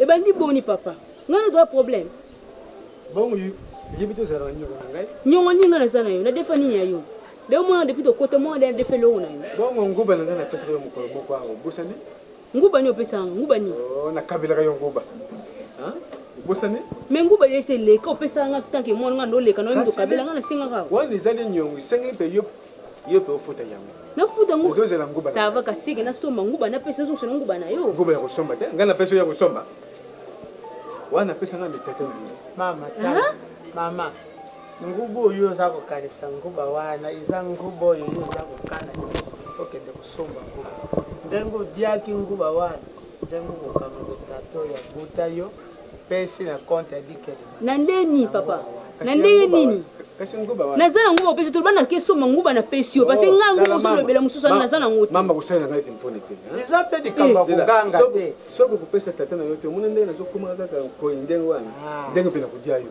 ebandi boni papa ngai nazoa problème bongo yebi tozala na nyongo na ngai nyongo nini ngai naza na yo nadefa nini ya yo leo mwana depuis tokota mwana nde nadefa eloko na yo bongo nguba na ngai napesaka yo mokolo moko yango obosani Nguba nini opesa nga nguba nini? Oh, na kabelaka yo nguba. Hein? Obosani? Mais nguba yo ese leka opesa nga tant que moi nga ndo leka na ndo kabela nga na singa ka. Wani zali nyongo sengi pe yo yo pe ofuta yango. Na futa nguba. Ozo zela nguba. Ça va ka seke na somba nguba na pesa ozo sona nguba na yo. Nguba ya kosomba te. Nga na pesa ya kosomba. Wana pesa nga mitete na yo. Mama ta. Mama. Nguba oyo oza kokanisa nguba wana eza nguba oyo yo oza kokana te okende kosomba nguba ndenge odiaki nguba wana ndenge okokanga kotato ya buta yo pesi na compte ya dikeli na nde nini papa na ndenge nini naza na nguba opesi toloba na kesoma nguba na pesi yo parce oh, ngai nguba ozolobela mosusu wana naza na ngo mama kosalela ngai tempone te eza mpe likambo ya koganga te soki okopesa tata na yo te omona ndenge nazokomaka kaka koi ndenge wana ah. ndenge mpe nakodia yo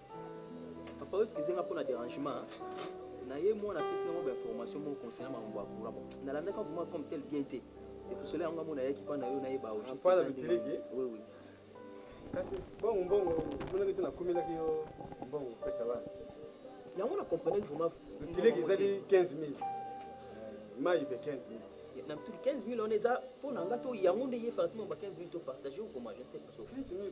Papa oyo excuse nga pona derangement naye mwana apesi nango ba information moko concernant makambo ya courant bon nalandaka vraiment comme tel bien te c'est pour cela yango nga mona yaki pa na yo nayeba au juste eza ndenge nini oui oui kasi bongo mbongo monaki te nakomelaki yo mbongo kopesa bana yango na comprenaki vraiment kileki ezali 15 000 mai be 15 000 na mtu 15 000 wana eza mpo na nga to yango nde ye fatima ba 15 000 to partage okoma je ne sais pas 15 000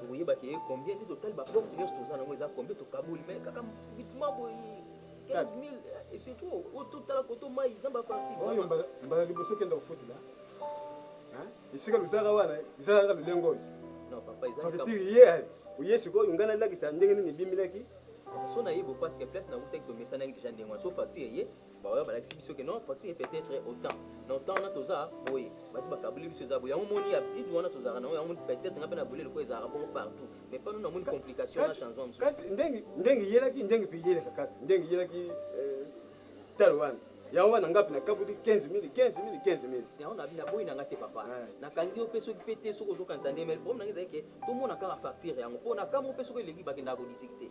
tokoyeba ke combien nde totali ba porte nyonso toza nango eza combien tokaboli mais kaka subitement boye 15000 et surtout oyo totala koto mai na ba parti oyo mbala liboso okenda kofutela esika luzaka wana ezala kaka lolenge oyo fakitire ye oye sikoyo ngai nalakisa ndenge nini ebimelaki so nayebi parce que place na utaki tomesanaki deja ndenge wana so facture eye baoyo balakisi biso ke non politique est peut-être autant na autant wana toza boye basi bakaboli biso eza boye yango moni ya petite wana tozalaka nango yango peut-être nga mpe na bolele ko ezalaka bongo partout mais pano na moni complication na changement mosusu kasi ndenge ndenge yelaki ndenge mpe yelaka kaka ndenge yelaki euh, talo wana yango wana ngapi na kabuti 15 mili 15 mili 15 mili yango na boyi nanga te papa nakangi yo mpe soki mpe te soki ozokanisa nde mele problème nanga ezali ke tomona kaka facture yango mpo na kambo mpe soki eleki bakendaka kodisiki te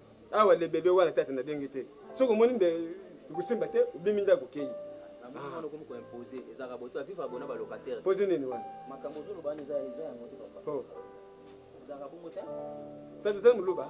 Awa le bebe wana tata na denge te soki omoni nde ekosimba te obimi ndako okeyi. Ah. Poze nini wana? Oh. Tata ozali muluba?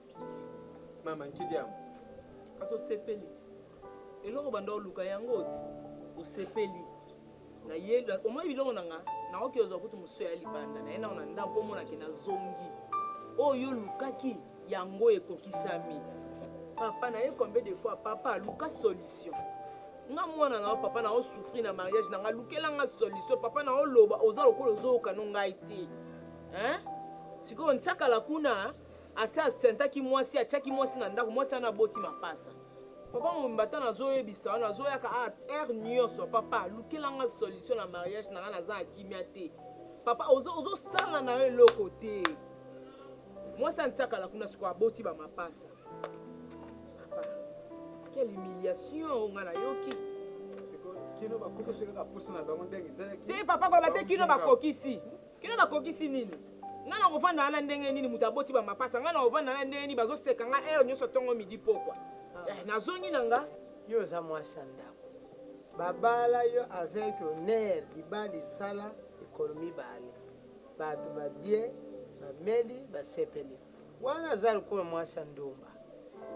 Mama nkidi yango kasi osepeli ti eloko banda oluka yango oti osepeli na ye omoni biloko na nga naoki ozwa kutu mosusu ya libanda na ye nao na ndako omona ke nazongi oyo olukaki yango ekokisami papa na ye combien de fois papa luka solution nga mwana na yo papa na yo souffrir na mariage na nga lukela nga solution papa na yo loba oza lokola ozoyoka no ngai te hein sikoyo nsakala kuna Asi asentaki mwasi, atiaki mwasi na ndako, mwasi wana aboti mapasa. Papa mobimba ta nazo yebisa yo nazo yaka awa heure nioso papa lukela nga solution na mariage na nga naza na kimia te papa ozo ozo sala na yo eloko te mwasi antiakala kuna sikoyo aboti ba mapasa papa quelle humiliation oyo nga nayoki te papa koyeba te kino bakokisi Kino na kokisi nini? Nga na kovanda wana ndenge nini moto aboti ba mapasa nga na kovanda wana ndenge nini bazo seka nga heure nioso tongo midi pokwa eh na zongi na nga. Yo oza mwasi ya ndaku ba bala yo avec honneur libala esala mikolo mibale batu ba bye ba meli ba sepeli wana aza lokola mwasi ya ndumba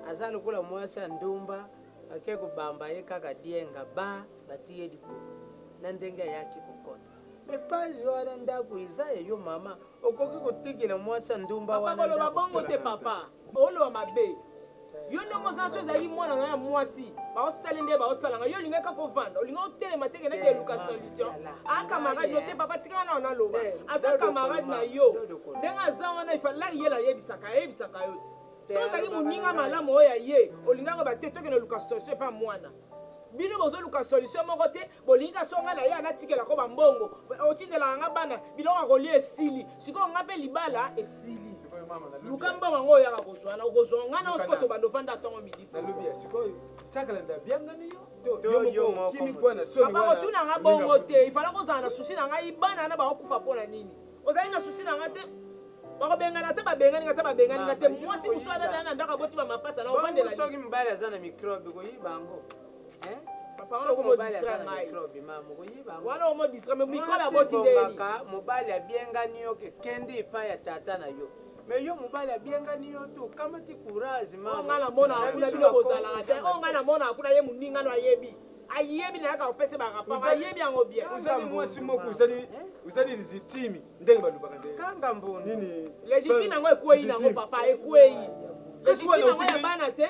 aza lokola mwasi ya ndumba ake kobamba ye kaka dienga ba batiye libulu na ndenge ayaki kokota Mais page wana ndaku eza ya yo maman okoki kotikela mwasi ya ndumba wana ndaku te. Papa koloba bongo te papa oloba mabe yo ndenge oza soki ezalaki mwana nayo ya mwasi baosali nde baosalanga yo olingaki kaka ovanda olingaki otelema te kendaki eluka solution a camarade no te papa tika wana naloba aza camarade na yo ndenge aza wana ifalaki ye layebisaka ayebisaka yo te soki ozalaki moninga malamu oyo ya ye olingaki oloba te tokende oluka solution epa mwana bino bozoluka solution moko te Bolingi ka songa na ya natikela ko ba mbongo otindelaka nga bana biloko ya kolia esili sikoyo nga mpe libala esili luka mbongo yango oyaka kozwa na okozwa nga na osiko tobanda ofanda atongo midi bakotuna nga bongo te ifala kozala na susi na ngai bana wana bakokufa mpo na nini ozali na susi na nga te bakobengana ata babengani nga ata babengani nga te mwasi mosusu wana na ndako aboti bamapasa na ofandela soki mibali aza na mikrobe koyiba yango mobali abiengani yo ke kende epai ya tata na yo mais yo mobali abiengani yo te okamati courage mamangai namonaka kuna bino bozalaka te oyo ngai namonaka kuna ye moninga no ayebi ayebi nayaka kopesa baraport ayebi yango bien ozali mwasi moko ozali ozali lizitimi ndenge balobaka nde kanga mbonini lizitimi yango ekwei nango papa ekwei lizitimi yango ya bana te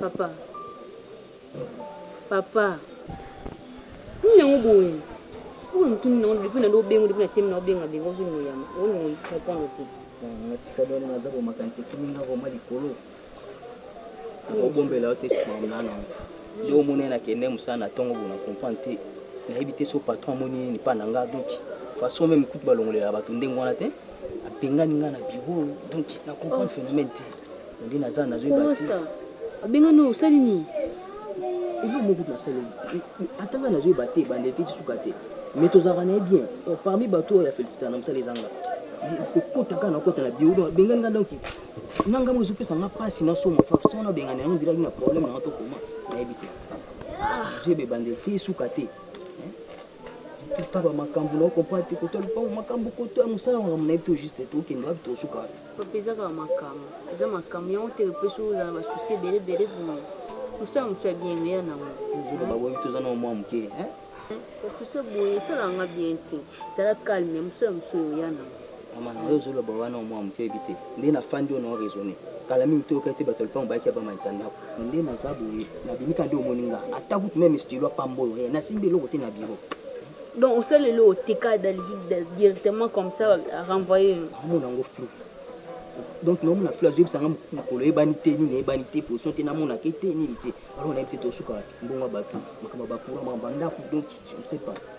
Papa. Papa. Nini yango boye? Oyo mutu nini yango depuis na ndo bengo depuis na temi na obenga benga ozo noyama. Oyo noyi comprendre te. Na tika doni na zabo makanti kimi nga vraiment likolo. Ko bombela yo te sima na na. Yo mona na kende musala na tongo bona comprendre te. Na yebi te so patron moni ni pa na nga donc façon même kutu balongolela bato ndenge wana te. Abengani nga na bureau donc na comprendre oh. phénomène te. Nde naza nazo yeba te. Kowasa obenga no osali nini? Eloko moko kutu nasali ata nga nazo yeba te ebandeli te ti suka te mais tozalaka naye bien donc parmi batu oyo ya felicita na musala eza nga kokota kaka na kota na bio donc abengani nga donc na nga mo ezopesa nga pasi na somo façon wana abengani yango bilaki na problème na nga tokoma nayebi te nazo yeba ebandeli te suka te Taba makambu na comprendre te koto lupango makambu koto ya musala makambu na yebi to juste to kende wapi to suka wapi papa eza kaka makambu eza makambu yango te epesi ozala ba souci ebele ebele vraiment musala musu ya bien eya nango nzoto ba boyebi toza na mwa muke hein ba souci boye esala nga bien te zala calme musala musu eya nango mama na yo ozoloba wana mwa muke oyebi te nde na fandi oyo na raisonner kala mingi toyoka ete bato ya lupango bayaki ya bamalisa ndako Mais nde naza boye na bimi kaka nde omoni nga ata kutu meme stylo ya pamba oyo rien na simbi eloko te na bureau. Donc osali eloko te kaka dans le vide directement comme ça a renvoyer yo. Nazo mona yango flou. Donc nazo mona flou azo yebisa nga mukolo eyebani te nini eyebani te position te na monaka ye te nini te alors na yebi te toko suka wapi mbongo ya batu makambo ya ba courant makambo ya ndaku donc je ne sais pas.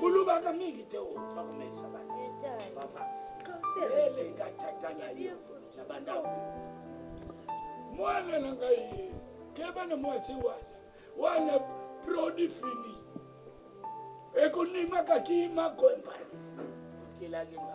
kolobaka mingi te bakomelisa baelenga tata na yo na bandako mwana na ngai keba na mwasi wana wana produit fini ekonimaka kima kompani otelaki nga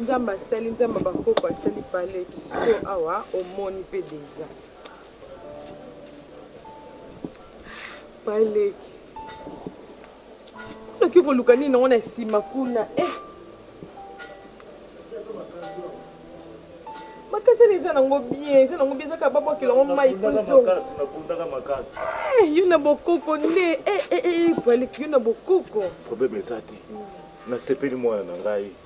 nzambe asali nzambe bakoko asali pale kisiko awa omoni mpe deja Baleki. Kuna ki koluka nini nango na nsima kuna eh. makasi wana eza nango bien eza nango bien ezaka babwakela yango mai eh, yo na bokoko nde eh, eh, baleki yo na bokoko probleme eza te nasepeli mwana na ngai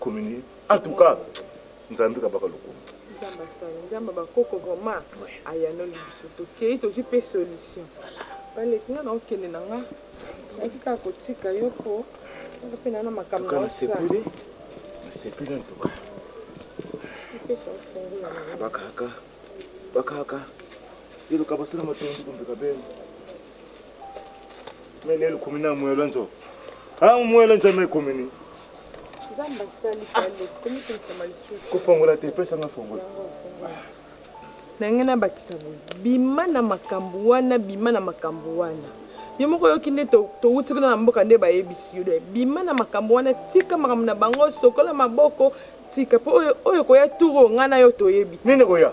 Communie en tout cas nzambe kabaka lokumu. Nzambe asali nzambe ba koko vraiment ayanoli biso tokeyi tozui pe solution ba leki nga nao kende na nga nayaki kaka kotika yo po nga pe na na makambo nao sala nasepeli en tout cas epesa ofungula na bakaka bakaka eloka basala matondo kombeka bene Melelo kumi na mwelo nzo. Ah mwelo nzo me kumi ni. Zamba sali pale. Kumi kumi kama lichuchu. Kufongola te pesa nga fongola. Na ngai na bakisa boye. Bima na makambo wana, bima na makambo wana. Yo moko yoki nde to to wuti kuna na mboka nde bayebisi yo. Bima na makambo wana, tika makambo na bango, sokola maboko, tika po oyo oyo koya turo ngai na yo toyebi. Nini koya?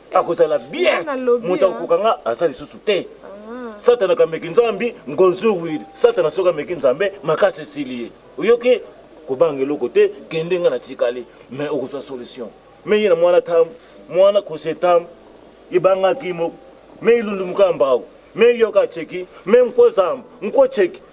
akozala bien moto akokoka nga aza lisusu te ah. satana kameki nzambi ngonzuwiri satana soki ameki nzambe makasi esili ye oyoki kobanga eloko te kende nga natikali me okozwa solution me ye na mwana tam mwana kose tam ebangaki moko me ilundu mukambao me yoka cheki me nkozamba nko cheki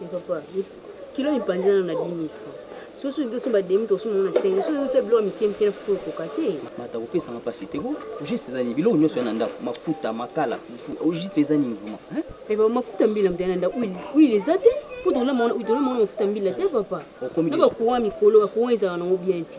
Mais papa, kilo mipanzi nanu na 10.000 francs. Soki soki to somba demi to somba na 5.000. Soki ozo tia biloko mike mike na fufu ekoka te. Mata akopesa nga pasi te ko. Au juste eza nini? Biloko nionso ya na ndaku, mafuta, makala, fufu, au juste eza nini vraiment hein? Mais papa mafuta ya mbila mutu aya na ndaku huile, huile eza te? Po tolamba wana huile, tolamba wana mafuta ya mbila te papa. Okomi Na ba dejà. courant ya mikolo, ba courant ezalaka nango bien te.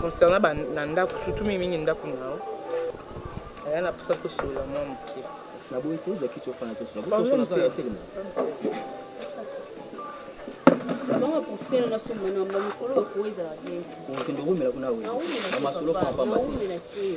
concernant ba na ndako surtout mingi mingi ndako na yo aya na posa tosolola mwa moke naboyi te ezaki tofana tosolaokende owumela kuna na masolo pamapamba te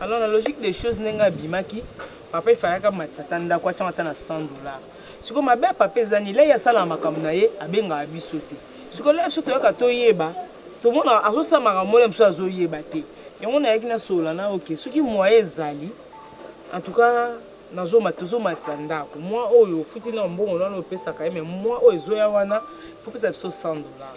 Alors na logique des choses ndenge abimaki papa il fallaki amatisa ata ndaku atiango ata na 100 dollars sikoyo mabe ya papa eza nini là ye asalaka makambo na ye abengaka biso te sikoyo là biso toyaka toyeba tomonaka azosala makambo moko na biso azoyeba te yango nayaki nasolola na ok soki moyen ezali en tout cas tozomatisa ndaku mois oyo ofuti nanu mbongo nanu opesaka ye mais mois oyo ezoya wana il faut opesa biso 100 dollars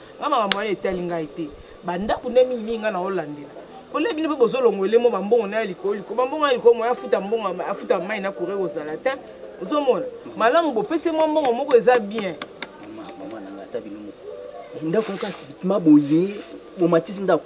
Nga makambo wana etali ngai te ba ndaku nde mingi mingi nga nazo landela pole bino pe bozo longwa elemo ba mbongo naya likolo likolo ba mbongo naya likolo moyen afuta mbongo afuta mayi na courant eko zala tein ozo mona malamu bo pesa ye mwa mbongo moko eza bien. Maman maman nanga ata bino moko ndaku kaka subitement boye bo matisi ndaku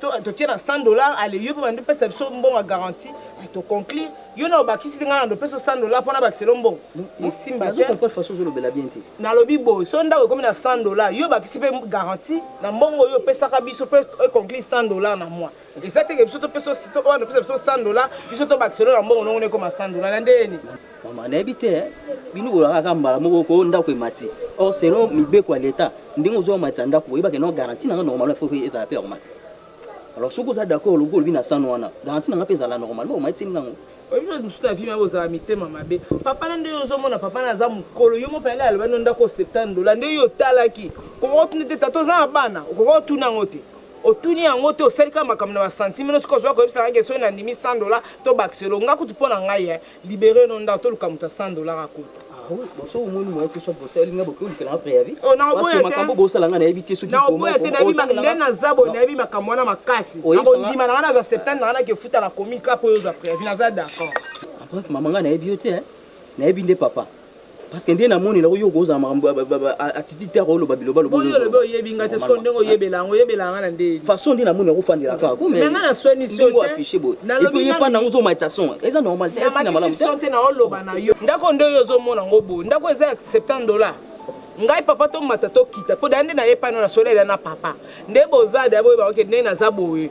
To to tie na 100 dollars ale yo pe bando pesa biso mbongo ya garantie a to conclure yo na obakisi te nga na ndo pesa 100 dollars pona bakisa lo mbongo esimba te. Nazo comprendre façon ozo lobela bien te. Na lobi boye so ndako ekomi na 100 dollars yo obakisi pe garantie na mbongo oyo opesaka biso pe e conclure 100 dollars na mois eza te ke biso to pesa oyo na pesa biso 100 dollars biso to bakisa lo na mbongo nongo na ekoma 100 dollars na ndeni. Maman nayebi te eh, bino bolaka kaka mbala moko ko ndako emati. Or selon mibeko ya l'Etat, ndenge ozo matisa ndako oyeba ke non garantie na nga normalement faut que ezala pe ya komata. Alors soki oza d'accord logo olobi na sano wana, garantie na nga pe ezala normalement omatisi nga yango. Oyebi bino mususu na vie ma bozala mitema mabe. Papa na nde ozo mona papa na aza mukolo yo moko pele aloba no ndako 70 dollars nde yo otalaki. Okoka otuna te tata oza na bana okoka otuna yango te. Otuni yango te osali kaka makambo na ba sentiment no soki ozwa koyebisa nga ke soki na ndimi 100 dollars to bakiselo nga kutu pona ngai eh. Libere no ndako toluka moto ya 100 dollars akota. Ah oui, bon soki omoni moyen te soit bosa elinga boke olukela nga preavis. Oh na oboya te. Makambo bosala nga nayebi te soki na oboya te nayebi ma nde na zabo nayebi makambo wana makasi. Ako ndima na nga na za septembre na nga na ke futa na komi ka po yo za preavis na za d'accord. Après maman nga nayebi yo te hein. Nayebi nde papa. parce que nde na moni na yo kozala makambo attitude te akoloba biloba loba oyo loba oyebi nga te sikoyo ndenge oyebela yango oyebela yanga na ndeli façon nde na moni yango fandela kaka ko mais nga na swani so te affiché boye et puis ye pa na ngo zo matisa son eza normal te esi na malamu te son te na oloba na yo ndako nde yo zo mona ngo boye ndako eza 70 dollars ngai papa tomata tokita mpo da nde naye pano na solela na papa nde bozada boyeba oke nde naza boye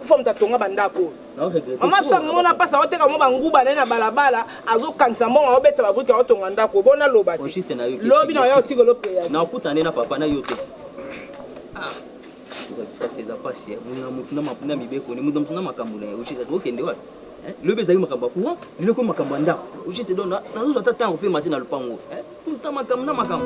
kufa moto atonga bandako oyo mama biso amona mpasi aoteka mo banguba na ye na balabala azokangisa mbongo aobetisa babrike aotonga ndako bona loba te lobi na oya otikolo preya nakutane na papa na yo te tokakisa te eza mpasi motu na mibeko ne moto mosu na makambo na ye ojisa tokokende wapi lobi ezalaki makambo ya courant lelo ekomi makambo ya ndako ojisa don nazozwa ata ntango mpe mate na lopango tuta makambo na makambo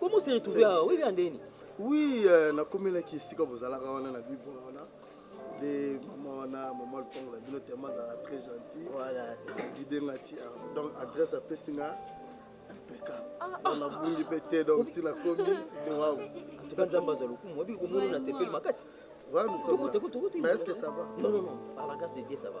Comment s'est retrouvé à oui bien Deni Oui, euh, nakomelaki esika bozalaka wana na bibo wana de mama wana mama lupango na bino tema azalaka très gentil guide nga ti donc adresse apesi nga impeccable nabungi mpe te donc ntina komi site wao en tout cas nzambe azwa lokumu oyebi komona na sepeli makasi Ouais, nous sommes là. Mais est-ce que ça va Non, non, non. Par la grâce de Dieu, ça va.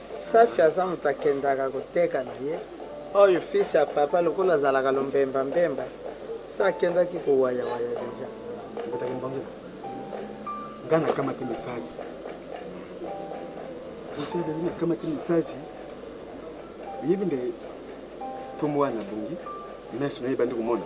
Safi aza mutu akendaka koteka na ye oyo fils ya papa lokola azalaka lombemba mbemba se akendaki ko waya waya dejà. Obetaka mbangula nga na kamati message otodeli na kamati message oyebi nde kombo wana bongi meso na ye ebandi komona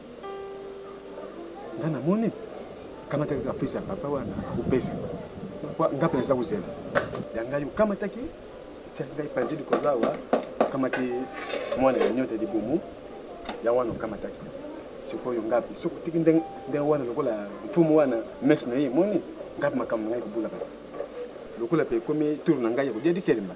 nga na moni kamata kaka fils ya papa wana akopesa nga mpe naza kozela ya ngai okamataki tiaki ngai panzi likolo awa okamati mwana ya nyota libumu ya wana okamataki sikoyo ngapi soki otiki ndenge wana lokola mfumu wana mesi na ye emoni ngapi makambo na ngai ekobula kasi lokola mpe ekomi turu na ngai ya kodia dikelemba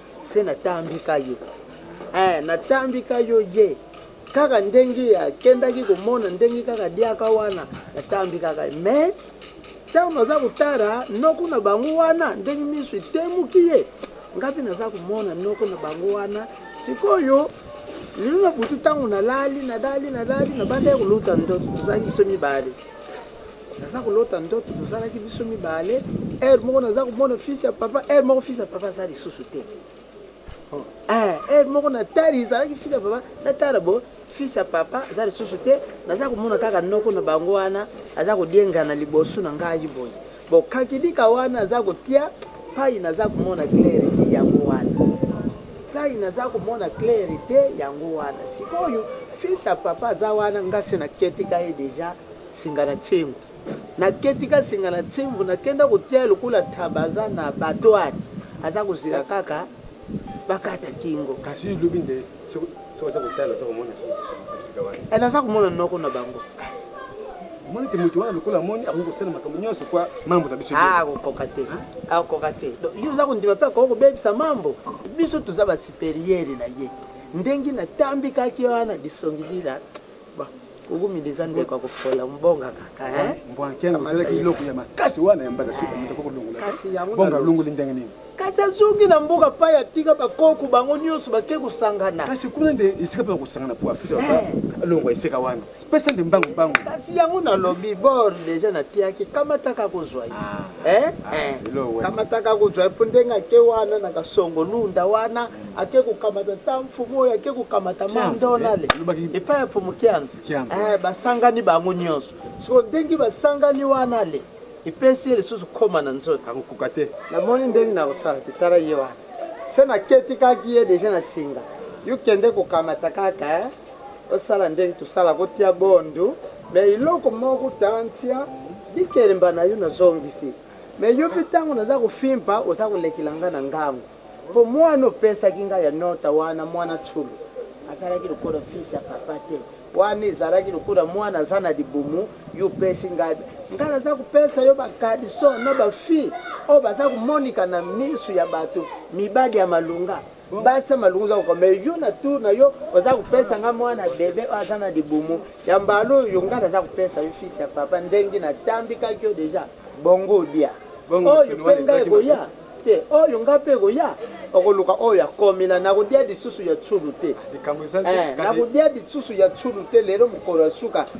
Se na tambi ka yo eh, na tambi ka yo ye Kaka ndenge a kendaki ko mona ndenge kaka a liaka wana Na tambi kaka ye mais tango na za ko tala noko na bango wana Ndenge misu e temuki ye nga pe na za ko mona noko na bango wana Sikoyo lelo na butu tango na lali, na lali, na lali Na bandaki ko lota ndoto to zalaki biso mibale Naza kolota ndoto tozalaki biso mibale heure moko naza komona fils ya papa heure moko fils ya papa aza lisusu te oh. eh, heure moko natali ezalaki fils ya papa natala bo fils ya papa aza lisusu te naza komona kaka noko na bango wana aza kodiengana liboso na ngai boye bokakilika wana aza kotia pai naza komona claire te yango wana pai naza komona claire te yango wana sikoyo fils ya papa aza wana ngase na ketika ye deja Singa na tsemvu na keti ka singa na tsemvu na kenda ko tia lokola ntaba aza na battoir aza ko zela kaka ba kata kingo. Kasi yo lobi nde soki oza ko tala oza ko mona esika wana? Eh naza ko mona noko na bango. Kasi omoni te moto wana lokola amoni akoki ko sala makambo nionso kwa mambo na biso ah, ako koka te ako koka te donc yo oza ko ndima pe ako ko bebisa mambo biso toza ba superieur na ye ndengi na tambi kaki wana lisongi lila Kugumida eza ndeko ya kopola ombonga kaka hein. Mbwankiango kamata esalaki ye eloko ya makasi wana ya mbata suka moto akoki kolongola te. Kasi yango Bongo nalobi. alongoli ndenge nini? Kasi azongi na mboka pai atika ba koko bango nionso bake kosangana. Kasi kuna nde esika mpe bakosangana mpo afisa papa Eh. alongwa esika wana. Pesa nde mbangu mbangu. Kasi yango nalobi bor deja natiaki kamata kaka ozwa ye. Eh, ah, eh. kamataka kozwa mpo ndenge ake wana na kasongo lunda wana ake kokamata ta mfumu oyo ake kokamata mandonale eh, epai ya mfumu kianza eh, basangani bango nyonso soko ndenge basangani wana le epesi ye lisusu koma na nzoto akokoka te namoni ndenge nakosala te tala ye wana se naketikaki ye deja na singa yo kende kokamata kaka osala ndenge tosala kotia bondu Mais eloko moko tantia likelemba nayo na zongisi mais yo pe tango naza kofimpa oza kolekela nga na ngangu po muana opesaki nga ya nota wana muana tshulu azalaki lokola fils ya papa te wana ezalaki lokola muana aza na libumu yo opesi nga nga naza kopesa yo ba caleçon na ba fille oyo baza komonika na misu ya batu mibali ya malonga Mbasa malunga oza koko mais yo na tour na yo oza kopesa nga mwana bebe oyo aza na libumu ya mbala oyo nga naza kopesa yo fils ya papa ndenge natambikaki yo deja bongo olia oyo mpe nga ekoya te oyo nga mpe ekoya okoluka oyo akomila nakolia lisusu ya tsulu te nakolia lisusu ya tsulu te lelo mokolo ya suka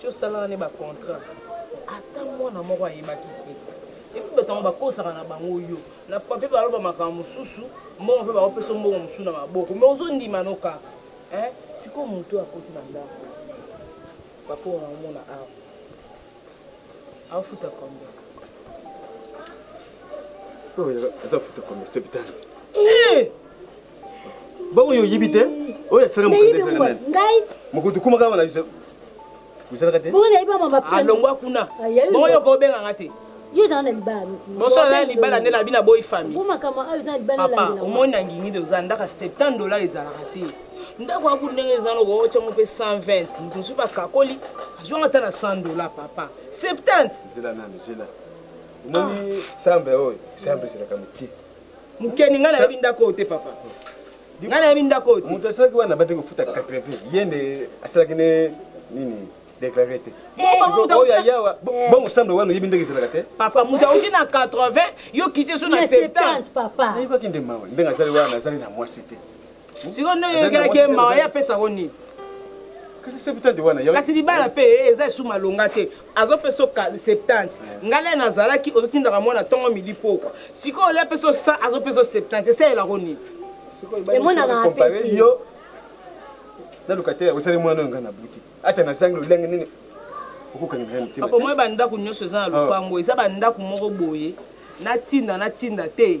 to salaka ne ba contrat ata mwana moko ayebaki te epuis bato yango bakosaka na bango yo na papier baloba makambo mosusu mbongo mpe bakopeso mbongo mosusu na maboko me ozondima no kaka eh sikoyo moto akoti na ndako bapongo na omona awa afuta combien aza futa combien septante eh! Bongo yo oyebi te oyo asala mokonzi okoma kaka na biso osalaka te alongwa ah, kuna bongo yo kobenga nga te mosala na libala nde nabi na boyi fami papa omoni na ngingi de oza ndaka 70 dola ezalaka te ndako ya ndenge eza noko otya ngo mpe 120 moto mosusu bakakoli azwanga ata na 100 dola papa 70 zela nanu zela omoni ah. sambe oyo sambe ezalaka moke Mukeni nga nayebi ndako oyo te papa. Nga nayebi ndako oyo te. Moto asalaki wana bande kofuta 80 ye nde asalaki ne nini déclaré te. Siko oyo ayawa bongo sambe wana oyebi ndenge ezalaka te. Papa moto auti na 80 yo kiti esu na 70. Nayebaki nde mawa ndenge azali wana azali na mwasi te. siko nde oyokelaki ye mawa ye apesa yango nini kasi libala mpe eh, eza esu malonga te azopesa oka 70 ngai le nazalaki ozotindaka mwana ntongo midi pokwa sikoyo le apesa osa azopesa o 70 esalelako nini emonanaka mpe yo na lokatele osali mwana oyo ngai nabuti ata nazangi lolenge nini okokangaapomoi bandako nyonso eza na ah. lopango eza bandako moko boye natinda natinda te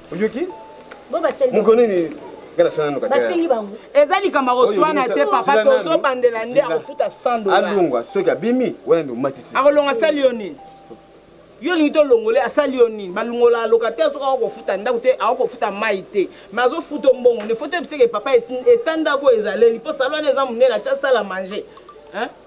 oyoki moko nini bafingi bango eza likambo akoswana te papa tozobandela nde akofuta 100 dola alongwa soki abimi wana nde omatisi akolonga sali yo nini yo olingi tolongole asali yo nini balongola locataire soki akokofuta ndako te akokofuta mai te ma azofuta mbongo nde foto ebiseke papa eta ndako oyo ezaleli mpo salo wana eza monene atya sala mange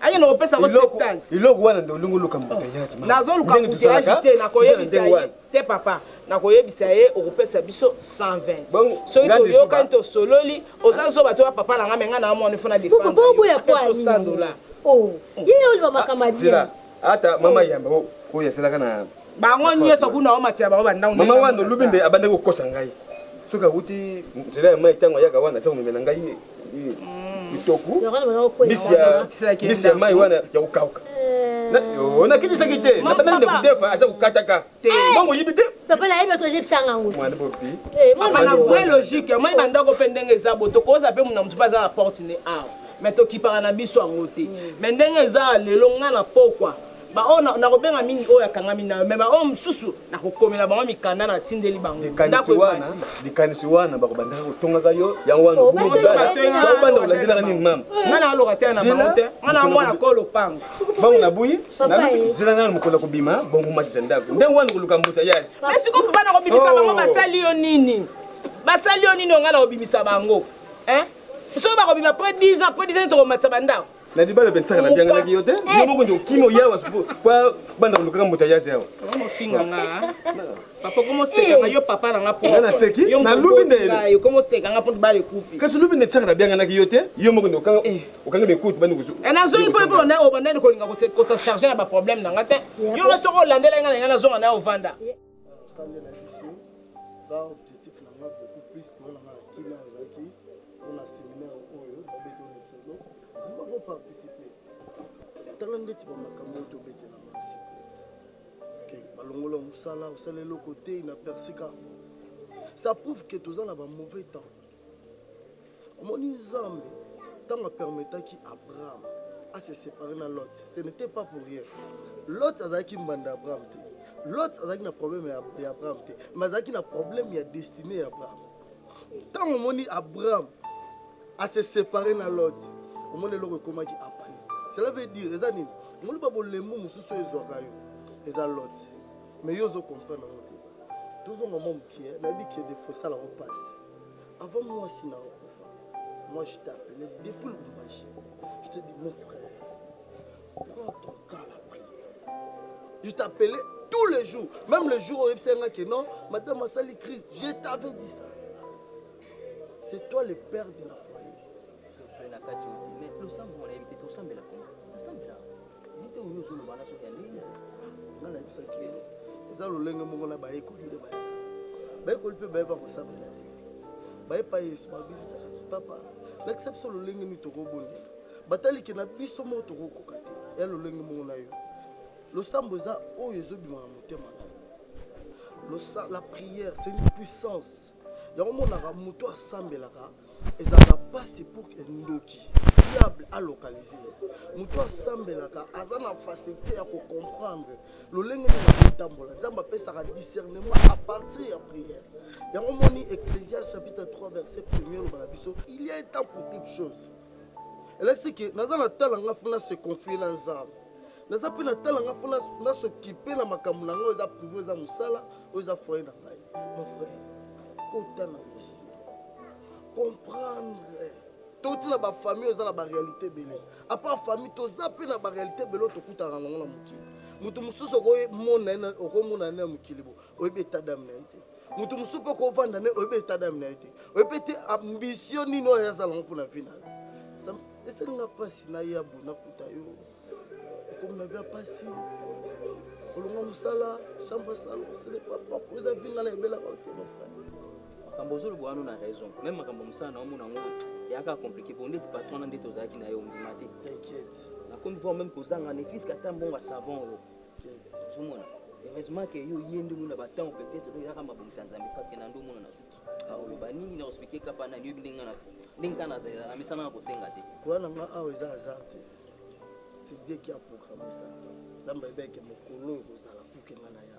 akende kopesa ko septante iloko wana nde olingi oluka mbuteyage nazoluka mbuteyage te nakoyebisa ye Te papa, nakoyebisa ye okopesa biso 120 soki toyokani tosololi, oza zoba to ya papa na nga mais nga na amona il faut na defendre yo, apesa yo 100 dollars. Oh ye yo oloba makambo ya bien. Zela ata mama yamba oyo azelaka na bango nioso kuna omatisa bango ba ndangu. Mama wana olubi nde abandaki kokosa ngai soki awuti nzela ya mayi tango ayaka wana aza komemela ngai kitoko mbisi ya mai wana ya kokauka eh. nakitisaki te nabandaki nde kodefa aza kokataka mbongo oyibi te papa nayebi oto ozebisanga yango mwana bopi eh, mama na vrai logique omoni bandako mpe ndenge eza bo tokoza mpe mona motu mpe aza na porte ne awa me tokipaka na biso yango te me ndenge eza lelo ngai na pokwa baoyo na- nakobenga mingi oyo akangami nayo me baoyo mosusu nakokomela bango mikanda natindeli bango ndako likanisi wana ebati likanisi wana bakobandaka kotongaka yo yango wana Obanda obanda kobanda bato ya- bakobanda kolandelaka nini mama ngai na lokatela na Zela, bango te ngai na mwana ko lopango bango nabuyi Papa naluki ye. zela nano mokolo ya kobima bongo matisa ndako ndenge wana koluka mbuta yazi me sikoyo mpo bana kobimisa bango Oh. basali yo nini basali yo nini ongai na kobimisa bango Hein? soki bakobima après 10 ans après 10 ans tokomatisa bandako na libala mpe nsaka nabianganaki yo te yo moko nje okimi oyawa kwa banda kolukaka moto ayazi awa omofinga nga papa okomoseka nga yo papa na nga pona naseki nalubi nde okomoseka nga mpo bala ekufi kasi lubi nde nsaka nabianganaki yo te yo moko nde okangi mekutu bandi kuzu nazongi mpo mpo na obandani kolinga kosacharge na baproblème na nga te yo nga soko olandela nga na nga nazonga na yo ovanda ba objectif na nga beaucoup plus mpona nga na kina ozalaki mpona seminaire oyo babeti lisolo bima ko participe tala ndeti bamakambo oyo tobetela mansi balongola mosala osala eloko te na persika ça prouve que toza na ba mauvais temps Omoni Nzambe tango a permetaki Abraham a se separer na Lot, ce n'etait pas pour rien. Lot azalaki mbanda ya Abraham te. Lot azalaki na problème ya, ya Abraham te, mais azalaki na problème ya destinée ya Abraham. Tango omoni Abraham a se separer na Lot, omoni eloko ekomaki apani. Cela veut dire eza nini? Omoni ba bolembu mosusu ezwaka yo, eza Lot. Mais yo ozo comprendre yango te. Tozonga mwa mukie, nayebi que des fois esala ngo pasi. Avant mwasi na yo akufa, moi je t'ai appelé depuis Lubumbashi. Je te dis mon frère, prends ton temps la prière. Je t'appelais tous les jours, même le jour où oyebisaki nga que non, madame asali crise, je t'avais dit ça. C'est toi le père de la famille. Losambo mwana yebi te tosambela kuna. Nasambela. nayebisaki eza lolenge moko na bayekoli nde bayaka bayekoli mpe bayeba kosambela te bayepa yesu babisa papa lakisa biso lolenge nini tokobondela batalike na biso moko tokokoka te ya lolenge moko na yo losambo eza oyo ezobima na motema na yo la prière c'est une puissance yango omonaka moto asambelaka ezalaka mpasi pour que ndoki diable a localise ye moto asambelaka aza na facilité ya kocomprendre lolenge nini akotambola nzambe apesaka discernement à partir ya prière yango moni ecclésias chapitre 3 verset premier oloba na biso il y a temps pour toute chose elakisi ke naza na tala nga funa se confie na nzambe Naza pe na tala nga faut na na s'occuper na makambo na nga eza privé eza musala oyo eza foyer na ngai mon frère kota na musique comprendre touti na ba famille eza na ba réalité ebele à part famille toza pe na ba réalité ebele oyo tokutana na yango na mokili moto mosusu okomona ye okomona ye na mokili bo oyebi etat d'âme na ye te moto mosusu mpe okovanda ne oyebi etat d'âme na ye te oyebi ete ambition nini oyo azala yango mpo na vie na yo esalinga mpasi na ye abona kuta yo ekomi na via mpasi olonga mosala chambre salo ce n'est pas propre eza vinga na ebelaka ote mon frère makambo ozoloba wana na raison meme makambo mosala na omona yango eyaka compliqué bo ndeti patron na ndeti ozalaki na ye ondima te t'inquiète nakomi voir meme kozanga ne fiske ata mbongo ya savon oyo ozomona heureusement que yo ye nde omona batango peut-être oyaka mabongisa nzambe parce que na nde omona na suki aoloba nini na ospike kapa nani oyebi ndenge ndenge kaka nazalela na misana na kosenga te koya na nga awa eza azar te c'est Dieu qui a programmé ça nzambe ayebaki ke mokolo oyo kozala kuke ngai na ya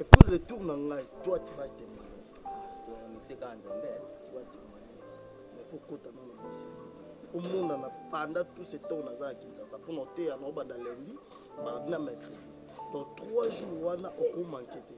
et puis retour na ngai toi tu vas témoigner mixe kaka nzambe tu vas témoigner mais faut kota nano mixe omonana pendant tout ce temps naza na kinshasa mpo na oteya na obanda lundi mardi na mercredi donc trois jours wana okomanke te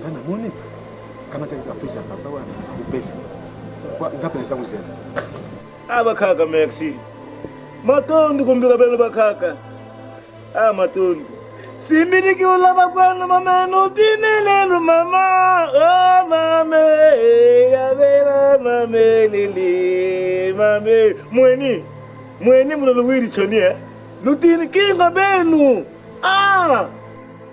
nga na moni kama te ka pesa papa wa ko pesa kwa nga pesa ko zela aba kaka merci matondo ko mbika bana ba kaka ah matondo simbini ki ola ba kwa na mama no dine le no mama oh mama ya bela mama lili mama mweni mweni mulo lo wiri choni eh lutini kinga benu ah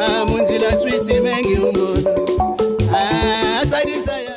Ah, munzila swisi mengi umona. Ah, asalisa ya.